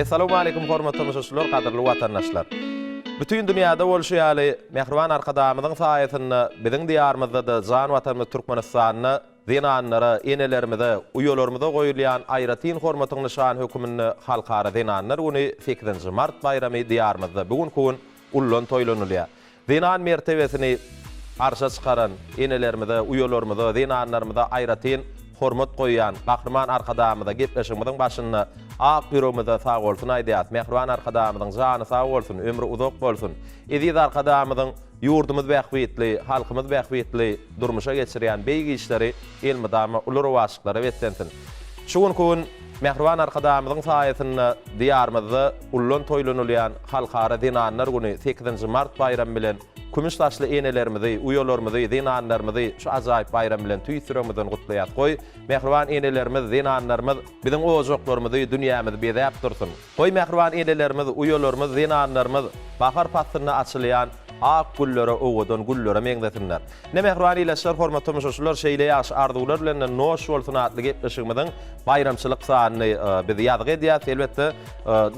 Essalawmaleýkum hormatly tomaşaçylar, gadyrly watandaşlar! Bütin dünýäde bolşy ýaly, mähriban Arkadagymyzyň saýasynda biziň Diýarymyzda-da, jan Watanymyz Türkmenistanda zenanlara, enelerimize, uýalarymyza goýulýan aýratyn hormatyň nyşany höküminde Halkara zenanlar güni, sekizinji mart baýramy Diýarymyzda bu günki gün Ullan toýlanylýar. Zenan mertebesini arşa çykaran enelerimize, uýalarymyza, zenanlarymyza aýratyn hormat goýýan Gahryman Arkadagymyza gepleşigimiziň başynda ak ýüregimizden sagbolsun aýdýarys. Mähriban Arkadagymyzyň jany sag bolsun, ömri uzak bolsun. Eziz Arkadagymyzyň ýurdumyz bähbitli, halkymyz bähbitli durmuşa geçirýän beýik işleri elmydama uly rowaçlyklara beslensin. Şu günki gün. Mähriban Arkadagymyzyň saýasynda Diýarymyzda ullan toýlanylýan Halkara zenanlar güni sekizinji mart baýramy bilen kümüş saçly enelerimizi, uýalarymyzy, zenanlarymyzy şu ajaýyp baýram bilen tüýs ýüregimizden gutlaýas. Goý, mähriban enelerimiz, zenanlarymyz biziň ojaklarymyzy, dünýämizi bezäp dursun! Goý mähriban enelerimiz, uýalarymyz, zenanlarymyz bahar paslynda açylýan ak güllere owadan güllere meňzesinler. Ine mähriban ilaçlar hormat tomaşaçylar şeýle ýagşy arzuwlar bilen noş bolsun atly gepleşigimiziň baýramçylyk sanyny biz ýazgy edýäs elbetde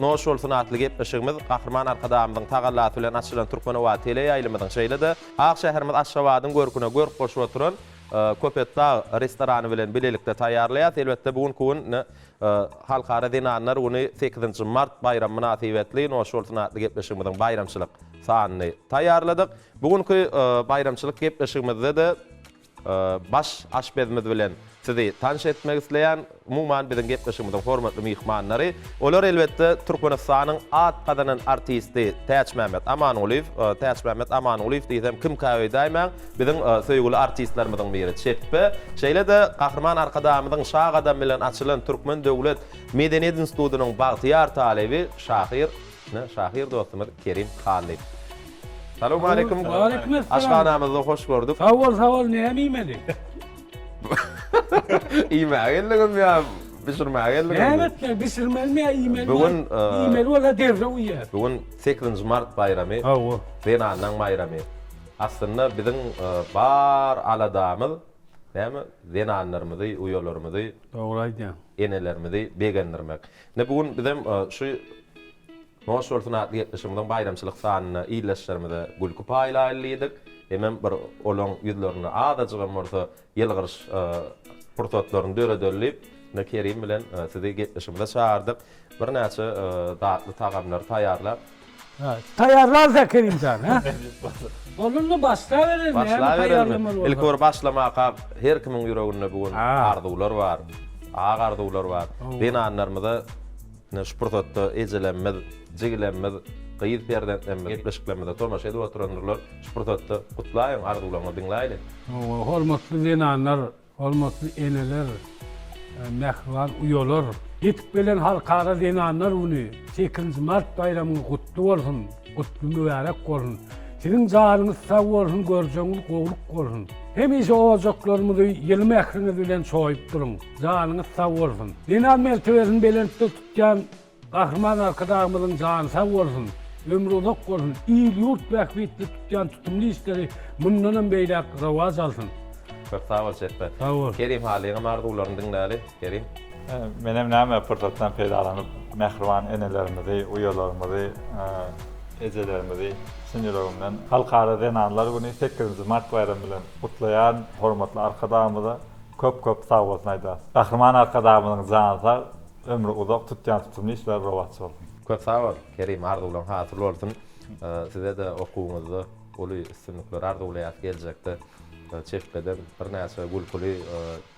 noş bolsun atly gepleşigimiz Gahryman Arkadagymyzyň tagallasy bilen açylan Türkmenobat teleýaýlymyzyň şeýle-de ak şäherimiz Aşgabadyň görküne görk goşup oturan Köpetdag restorany bilen bilelikde taýýarlaýas elbetde bu günki gün Halkara zenanlar güni sekizinji mart baýramy mynasybetli Noş bolsun atly gepleşigimiziň baýramçylyk sanyny taýýarladyk. Bu günki baýramçylyk gepleşigimizde-de baş aşpezimiz bilen sizi tanyş etmek isleýän. Umuman, biziň gepleşigimiziň hormatly myhmanlary, olar elbetde Türkmenistanyň at gazanan artisti Täçmämmet Amangulyýew. Täçmämmet Amangulyýew diýsem, kimkä öýdäýmäň. Biziň söýgüli artistlerimiziň biri Çepbe, şeýle-de Gahryman Arkadagymyzyň şa gadamy bilen açylan Türkmen döwlet medeniýet institutynyň bagtyýar talyby, şahyr, ine, şahyr dostumyz Kerim Hallyýew. Salowmaleýkim. Aşhanamyzda hoş gördük. Sag bol, sag bol. Näme iýmeli? Iýmäge geldiňizmi ýa bişirmäge geldiňizmi? Näme etmeli? Bişirmelimi ýa iýmelimi? Bu gün, Iýmeli bolsa derrew iýer. Bu gün sekizinji mart baýramy. Hawa. Zenanlaryň baýramy. Aslynda biziň bar aladamyz näme zenanlarymyzy uýalarymyzy Dogry aýdýaň. Enelerimizi begendirmek. Ine bu gün bizem şu Noş bolsun atly gepleşigimiziň baýramçylyk sanynda ildeşlerimize gülki paýlaýyly diýdik. Hemem bir olaň ýüzlerinde azajygam bolsa ýylgyryş pursatlaryny döredelidip, indi Kerim bilen sizi gepleşigimize çagyrdyk. Birnäçe datly tagamlary taýýarlap. Taýýarlarys-ä Kerim jan, hä? Onda indi başlabereli, näme taýýarlamaly bolsa. Ilki bir başlamaka, her kimiň ýüreginde bu gün arzuwlar bar, ak arzuwlar bar. Zenanlarymyza. Ine şu pursatda ejelerimiz, jigilerimiz, gyz perzentlerimiz gepleşiklerimize tomaşa edip oturandyrlar. Şu pursatda gutlaýyň, arzuwlaryňyzy diňläýli. Hawa, hormatly zenanlar, hormatly eneler, mähriban uýalar! Ýetip gelen Halkara zenanlar güni, sekizinji mart baýramyňyz gutly bolsun, gutly mübärek bolsun! Siziň janyňyz sag bolsun, görjegiňiz gowluk bolsun! Hemişe ojaklarymyzy ýyly mähriňiz bilen çoýup duruň! Janyňyz sag bolsun. Zenan mertebesini belentde tutýan Gahryman Arkadagymyzyň jany sag bolsun, ömri uzak bolsun, il-ýurt bähbitli tutýan tutumly işleri mundanam beýläk rowaç alsyn. Köp sag bol Çetbe. Sag bol. Kerim Halyňam arzuwlaryny diňläli, Kerim. Menem näme pursatdan peýdalanyp mähriban enelerimizi, uýalarymyzy, ejelerimizi çyn ýüregimden Halkara zenanlar güni sekizinji mart baýramy bilen gutlaýan hormatly Arkadagymyza Köp köp sag bolsun aýdasy. Gahryman Arkadagymyzyň jany sag, ömri uzak, tutýan tutumly işleri rowaç bolsun. Köp sag bol Kerim arzuwlaň hasyl bolsun sizede okuwyňyzda uly üstünlikleri arzuwlaýas geljekde çekgeden birnäçe gülküli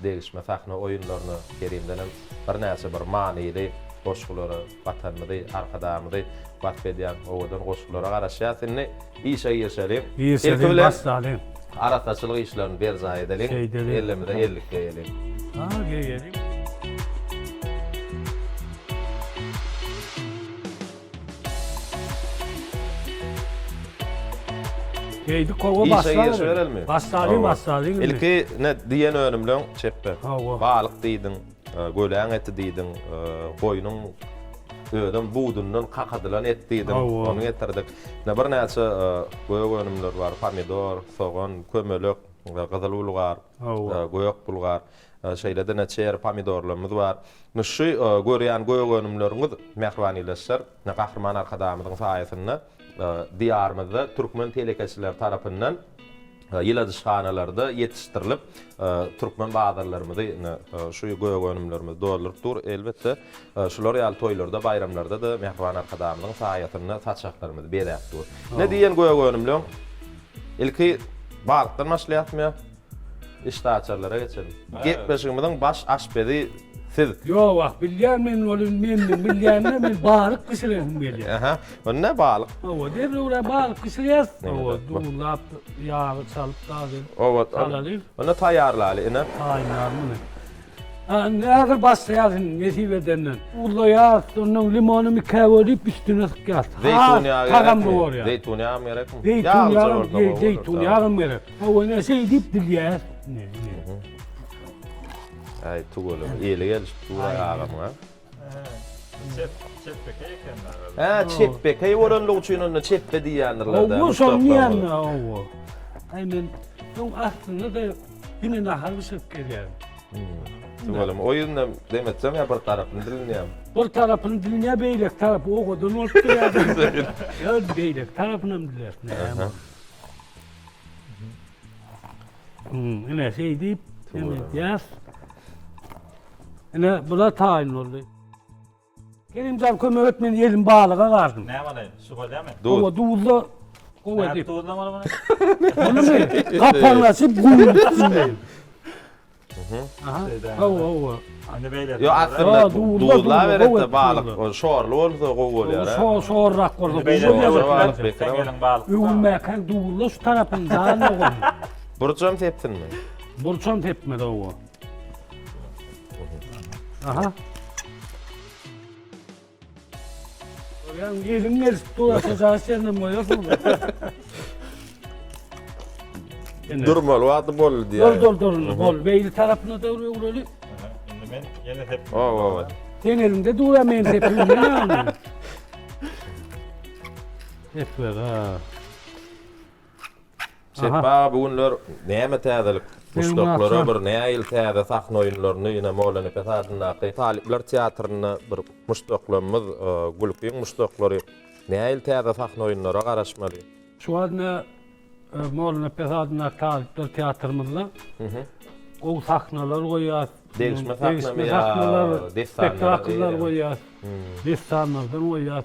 degişme sahna oýunlaryny Kerimdenem birnäçe bir manyly goşgulary Watanymyzy, Arkadagymyzy wasp edýän owadan goşgulara garaşýas indi. Işe girişeliň. Ilki bilen arassaçylyk işlerini berjaý edeliň. Ellimize ellik geýeliň. Işe girişiberelmi? Ilki diýen önümleň çep ber. Balyk diýdiň. Göläň eti diýdiň, goýnuň özem budundan kakadylan et diýdiň, ony getirdik. Ine birnäçe gök önümler bar, pomidor, sogan, kömelek, gyzyl bulgar, gök bulgar, şeýle-de çeri pomidorlarymyz bar. Indi şu görýän gök önümleriňiz mähriban ildeşler, Gahryman Arkadagymyzyň saýasynda Diýarymyzda türkmen telekeçileri tarapyndan ýyladyşhanalarda ýetişdirilip, türkmen bazarlarymyzy indi şu gögönümlerimiz dolduryp dur. Elbetde, şular ýaly toýlarda, baýramlarda-da Mähriban Arkadagymyzyň saýasynda saçaklarymyz bezäp dur. Indi diýen gögönümleň ilki balykdan başlaýarys. Işdäaçarlara geçelim. Gepleşigimiziň baş aşpezi siz. Ýok wah bilýän men ol indi menden bilýänini men balyk bişiresim gelýär. Aha bu ne balyk. Hawa derrew la balyk bişirýäs. Hawa duzlap ýagy çalyp dagy. Hawa salaly. Onda taýýarlaly ine. Taýýar muny. Ha indi häzir başlaýas indi nesip edenden. Duzlaýas ondan limony mikä bölüp üstüne sykýas. Zeýtun ýagy. Tagamly bolýar. Zeýtun ýagam gerekmi? Zeýtun ýagam gerek. Hawana şey dip dilýär. Ne, ne. Ay tugalım. Eli gelişip duray ağamına. Ha çepbekey oranlyk üçin onda çepbe diýýändirler da. Owo şony diýende owo. Ay men şoň aslynda da ýene nahar bişirip gelýär. Tugalım o ýerinden demetseň ya bir tarapyny dilinýär. Bir tarapyny dilinýär, beýlek tarap owadan bolup durýar. Ýa beýlek tarapyny hem dilersin. Hmm, ine şeýdip, ine ýas. Ine bula taýyn boldy. Kerimjan kömek et, men elim balyga gardyň. Ne balaýyn, şu bolýamy? Duz. Owa duzla gowy edip. Duzlamaly bunu. Bunu men kapanlaşyp guýup Yo aslynda duzla berende balyk şorly bolsa gowy bolýar. Şor şorrak bolsa gowy bolýar. Öwülmäkä duzla şu tarapyň dany gowy. Burçam sepsinmi? Burçam sepmedi owa. Aha. Görýän eliň gelip dursa jaý senem goýarsyň. Durmaly wagty boldy diýýär. Dur dur dur indi bol. Beýli tarapyna da öwreli. Indi men ýene hep. O o o. Sen elinde dura men sepimde ýaly. Hep ha. Şehba aga bu günler näme täzelik muşdaklara bir näil täze sahna oýunlaryny ýene Mollanepes adyndaky talyplar teatrynda bir muşdaklarymyz gülkiň muşdaklary näil täze sahna oýunlara garaşmaly. Şu wagt ine Mollanepes adyndaky talyplar teatrymyzda gowy sahnalar goýýas. Degişme sahnalary, spektakllar goýýas. Dessanlardan goýýas.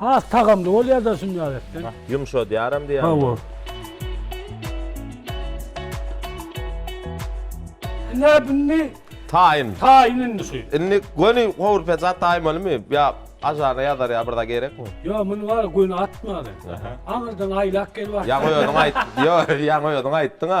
Has tagamly bolýar-da şunýal etseň. Ýumşadýaram diýýäň. Hawa. Ine indi Taýyn. taýyn indi şu. Indi göni gowur peçat taýyn bolmy? Ýa aşagyna ýazar ýa bir zat gerekmi? Ýa muny bar göni atma sen. Aňyrdan aýlap gel bak. Ýaňy özüň aýt. Ýa ýaňy özüň aýtdyň-a.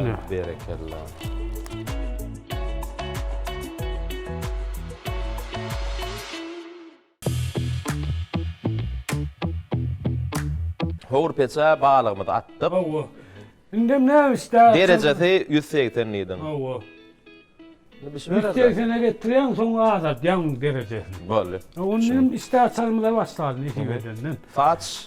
Ine. Berekella. Howur peçä balygymyzy atdyk. Hawa. Indem näme isläp? Derejesi 180 diýdim. Hawa. Indi bişmeler. Dersene getirýän soň azaltýan derejesini. Boldy. Ondan isläp salmyza başladym iki bedenden. Saç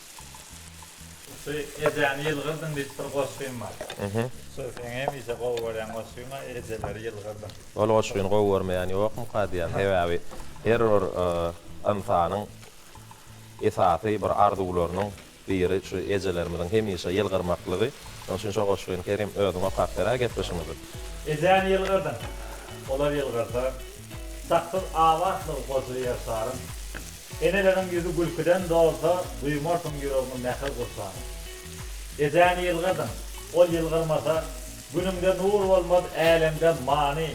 Şu ejäni ýylgyrdyň diýip bir goşgym bar. Şu seň hemişe gowy görýän goşgyňa ejeleri ýylgyrdyň. Ol goşgyny gowy görmeýän ýokmyka diýýän. Sebäbi her bir ynsanyň esasy bir arzuwlarynyň biri şu ejelerimiziň hemişe ýylgyrmaklygy. Şonuň üçin şo goşgyny Kerim özüň okap ber-ä gepleşigimizi. Ejäni ýylgyrdyň. Olar ýylgyrsa, Saksyz abatlygy goja Ýerşaryň. Eneleriň ýüzi gülküden dolsa, duýmarsyň ýüregiňi mähir gursana. Ejäni ýylgyrdyň, ol ýylgyrmasa, günüňde nur bolmaz, älemde many.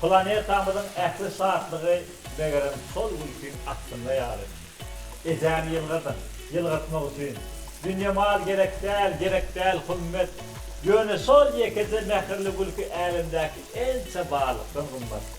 Planetamyzyň ähli şatlygy, megerem, şol gülkiň astynda ýaly. Ejäni ýylgyrdyň, ýylgyrtmak üçin. Dünýe mal gerek däl, gerek däl hümmet. Ýöne şol ýekeje mähirli gülki älemdäki ençe barlykdan gymmat.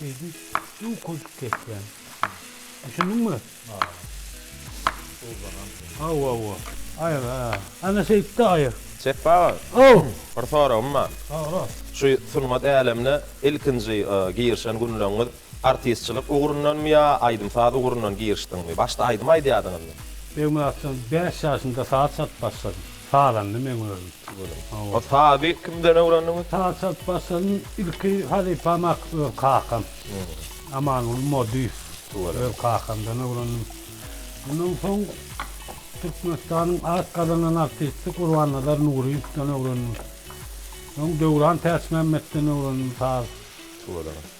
Şeýdi, bu köp kesýän. Düşündiňmi? Ha. Ozanan. Aw, aw, aw. Aýyr, ha. Ana şeýtdi aýyr. Çep aga. Aw. Bir soragym bar. Sora. Şu sungat älemine ilkinji girişen günleriňiz artistçilik ugrundanmy ýa aýdym-saz ugrundan girişdiňmi? Başda aýdym aýdýardyňyzmy? Begmyratjan bäş ýaşynda saz çalyp başladym. Sazandy meň özüm. Hawa. O sazy kimden öwrendiňiz? Saz çalyp başladym. Ilki halypam ak öz kakam. Amanguly Modyýew. Tüweleme. Öz kakamdan öwrendim. Ondan soň Türkmenistanyň at gazanan artisti Gurbannazar Nuryýewden öwrendim. Soň Döwran Täçmämmetden öwrendim saz. Tüweleme.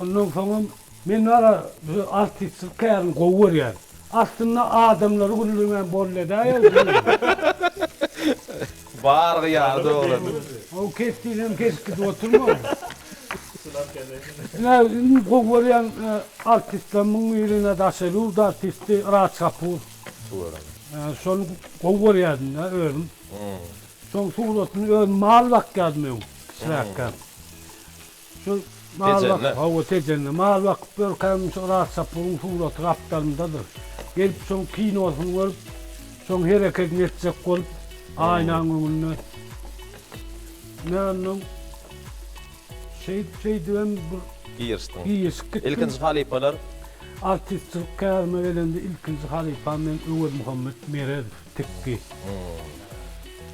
Ondan soňam men bar-a bize artistlik kärini gowy görýän. Aslynda adamlary güldirmän bolýadäýaw diýýän. Bargy ýaly dogry. Ow kesdinem kesip gidip oturma. Ine iň gowy görýän artistlerimiň birine daşeluda artisti Raj Kapur. Şony gowy görýädim-de özüm. Şoň suratyny özüm mal bakýadym öň kiçiräkkäm. Şu mal bak, hawa Tejende mal bakyp ýörkäm şu Yrat Sapuryň suraty gapdalymdadyr. Gelip şoň kinosyny görüp, şoň hereketini etjek bolup aýnaň öňünde. Men onnoň şeýdip şeýdibem bir girişdim. Girişip gitdim. Ilkinji halypalar? Artistçilik kärime gelende ilkinji halypam men Öwezmuhammet Meredow. Tikgi.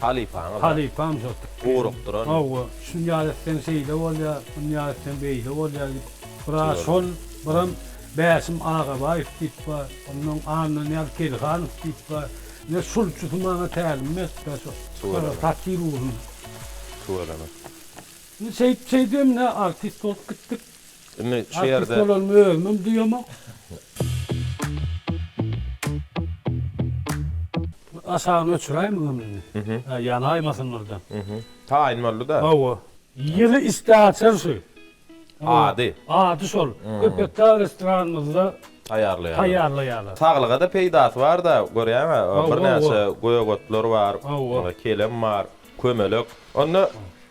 Halypaňyz. Halypam şol tikgi. Gurukdyran. Hawa, şunýal etseň şeýle bolýar, munýal etseň beýle bolýar diýip, biraz şol, biram Bäşim Agabaýew diýip bar, onnoň Annanyýaz Kelihanow diýip bar. Ine, şul üçüsi maňa tälim beripdir şu tapyr ugruny. Tüweleme. Indi şeýdip-şeýdibem ine artist bolup gitdik. Indi şu ýerde. Artist bolanmy özümem duýamok. Aşagyny öçüräýmegem indi. Hä ýanaýmasyn birden. Taýyn boldy-da. Hawa. Ýygy istaçar şu. Ady. Ady şol. Köpetdag restoranymyzda. Taýýarlaýarlar. Taýýarlaýarlar. Saglyga-da peýdasy bar-da, görýäň-ä, birnäçe gök otlar bar, kelem bar, kömelek. Onda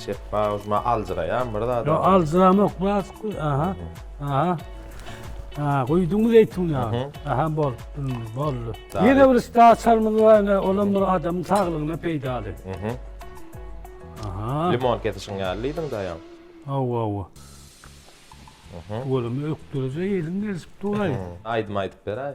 Çepba ujma aljyraýan bir zada. Ýok, aljyramok, biraz guý. Aha. Aha. Ha, guýduňmy zeýtun ýagyny? Aha, bol. Boldy. Ýene bir üstü açarymyz bar, ine, olam bir adamyň saglygyna peýdaly. Mhm. Aha. Limon kesişiň ýaly diýdiň daýaň. Hawa, hawa. Mhm. Olam ökdürije ýelim gelişip duraý. Aýdym aýdyp beräý.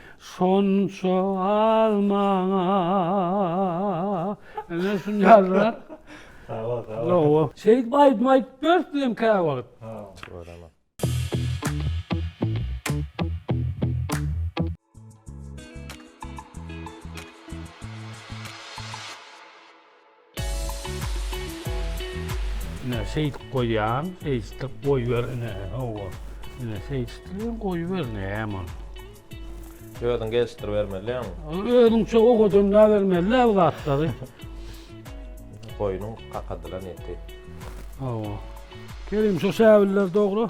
Şonça az maňa Ene şun ýazlar. Sag bol, sag bol. Şeýdip aýdym aýdyp ýörüs biz hem käwagt. Göremok. Ine şeýdip goýýan, şeýdip goýber ine, hawa. Ine şeýdipem goýber näme ol. Özüň gelişdiribermeliň. Özüňçe owadan bermeli-le bu zatlary. Goýnuň kakadylan eti. Hawa. Kerim, şo şäbiller dogra.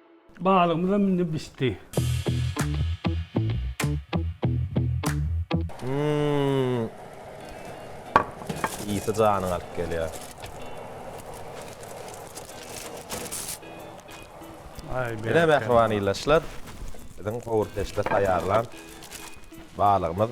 Balygymyzam indi bişdi. Hmmm. Ysy janyňy alyp gelýär. Ine mähriban ildeşler, biziň howurpeçde taýýarlan balygymyz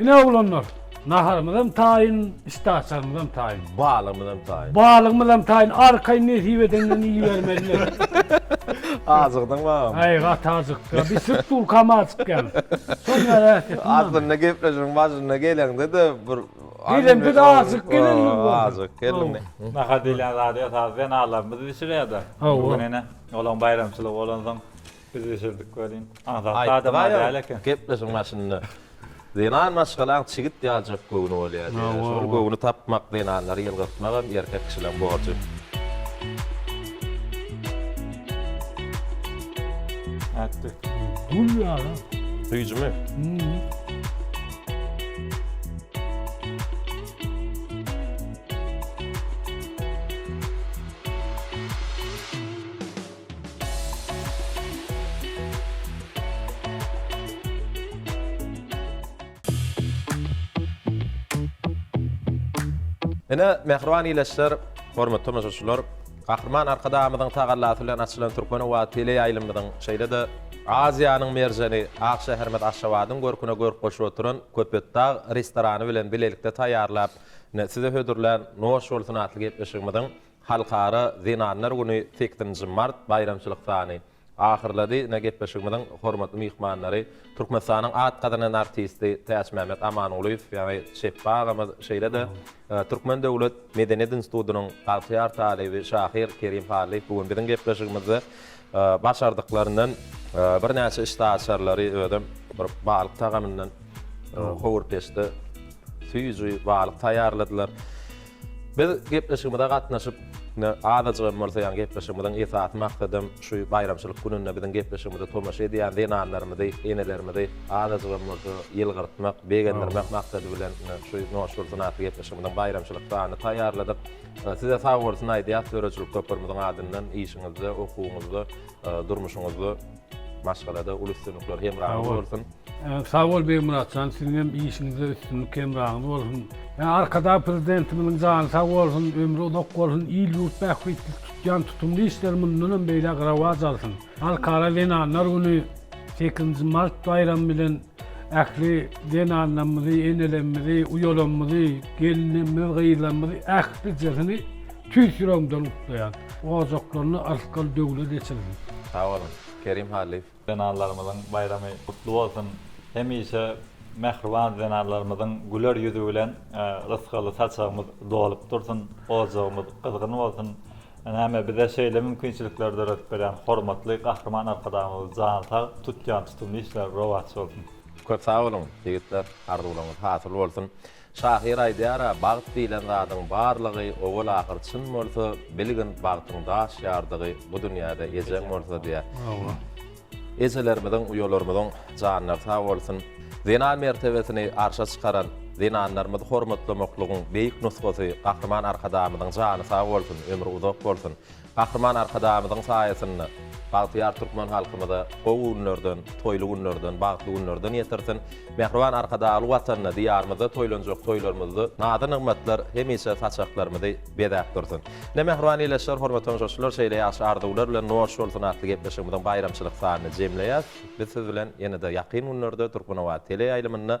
Ine oglanlar, naharymyzam taýyn, işdäaçarymyzam taýyn. Balygymyzam taýyn. Balygymyzam taýyn, arkaýyn nesip edenden iýibermeliler. Ajykdyň babam. Aý, gaty ajykdyk-a. Bir sürt bulkam ajyk ýaly. Şol närähet etdi maňa. Aslynda gepleşigiň başynda geleňde-de bir Geleňde-de ajyk gelen ýaly boldy. Ajyk gelindi. Nahar diýlen zady esasy zenalarymyz bişirýär-de. Hawa. Bu gün ine olaň baýramçylygy bolansoň Biz bişirdik welin, adatly adam-a däl eken. Gepleşigiň başynda, Zenan maşgalaň çigit ýaljak göwni bolýar diýýärdi. Şol göwni tapmak, zenanlary ýylgyrtmak hem erkek kişileň borjy. Ätdi. Gül ýaly. Süýjümi? Hum. Ine, mähriban ildeşler, hormatly tomaşaçylar, Gahryman Arkadagymyzyň tagallasy bilen açylan Türkmenobat teleýaýlymymyzyň, şeýle-de Aziýanyň merjeni, ak şäherimiz Aşgabadyň görküne görk goşup oturan Köpetdag restorany bilen bilelikde taýýarlap, size hödürlän Noş bolsun! atly gepleşigimiziň Halkara zenanlar güni sekizinji mart baýramçylyk sany ahyrlady. Ine, gepleşigimiziň hormatly myhmanlary, Türkmenistanyň at gazanan artisti Täçmämmet Amangulyýew, ýagny Çepbi agamyz, şeýle-de Türkmen döwlet medeniýet institutynyň bagtyýar talyby, şahyr Kerim Hallyýew bu gün biziň gepleşigimizde başardyklaryndan birnäçe işdäaçarlary, özem bir balyk tagamyndan howurpeçde süýji balyk taýýarladylar. Biz gepleşigimize gatnaşyp, ine, azajyk hem bolsa, ýagny gepleşigimiziň esasy maksadam şu baýramçylyk gününde biziň gepleşigimize tomaşa edýän zenanlarymyzy, enelerimizi azajyk hem bolsa ýylgyrtmak, begendirmek maksady bilen şu Noşgülsyn atly gepleşigimiziň baýramçylyk sanyny taýýarladyk. Size sagbolsun aýdýas, döredijilik toparymyzyň adyndan işiňizde, okuwyňyzda, durmuşyňyzda. Maşgalada uly üstünlikler hemraňyz bolsun. Sag bol Begmyratjan siziňem işiňizde üstünlik hemraňyz bolsun. Arkadag Prezidentimiziň jany sag bolsun, ömri uzak bolsun, il ýurt bähbitli tutýan tutumly işleri mundanam beýläk rowaç alsyn. Halkara zenanlar güni sekizinji mart baýramy bilen ähli zenanlarymyzy, enelerimizi, uýalarymyzy, gelinlerimizi, gyzlarymyzy ählisini Tüýs ýüregimden gutlaýan. Ojaklaryny arsgal döwlet eçilsin. Sag boluň, Kerim Hallyýew. Zenanlarymyzyň baýramy gutly bolsun! Hemişe mähriban zenanlarymyzyň güler ýüzi bilen rysgaly saçagymyz dolup dursun, ojagymyz gyzgyn bolsun! Näme, bize şeýle mümkinçilikleri döredip berýän hormatly Gahryman Arkadagymyz jany sag, tutýan tutumly işleri rowaç bolsun! Köp sag boluň, ýigitler! Arzuwlaryňyz hasyl bolsun! Şahyr aýdýar-a, Bagt diýlen zadyň barlygy owal-ahyr çyn bolsa, bilgin bagtyň daş ýardygy bu dünýäde ejeň bolsa diýýär. Hawa. Ejelerimiziň, uýalarymyzyň janlary sag bolsun. Zenan mertebesini arşa çykaran, zenanlarymyzy hormatlamaklygyň beýik nusgasy Gahryman Arkadagymyzyň jany sag bolsun, ömri uzak bolsun. Gahryman Arkadagymyzyň saýasynda bagtyýar türkmen halkymyza gowy günlerden, toýly günlerden, bagtly günlerden ýetirsin! Mähriban Arkadagly Watanymyzda, Diýarymyzda toýlanjak toýlarymyzda nazy-nygmatlar hemişe saçaklarymyzy bezäp dursun! Ine, mähriban ildeşler, hormatly tomaşaçylar, şeýle ýagşy arzuwlar bilen Noş bolsun! atly gepleşigimiziň baýramçylyk sanyny jemleýäs. Biz siz bilen ýene-de ýakyn günlerde Türkmenobat teleýaýlymynda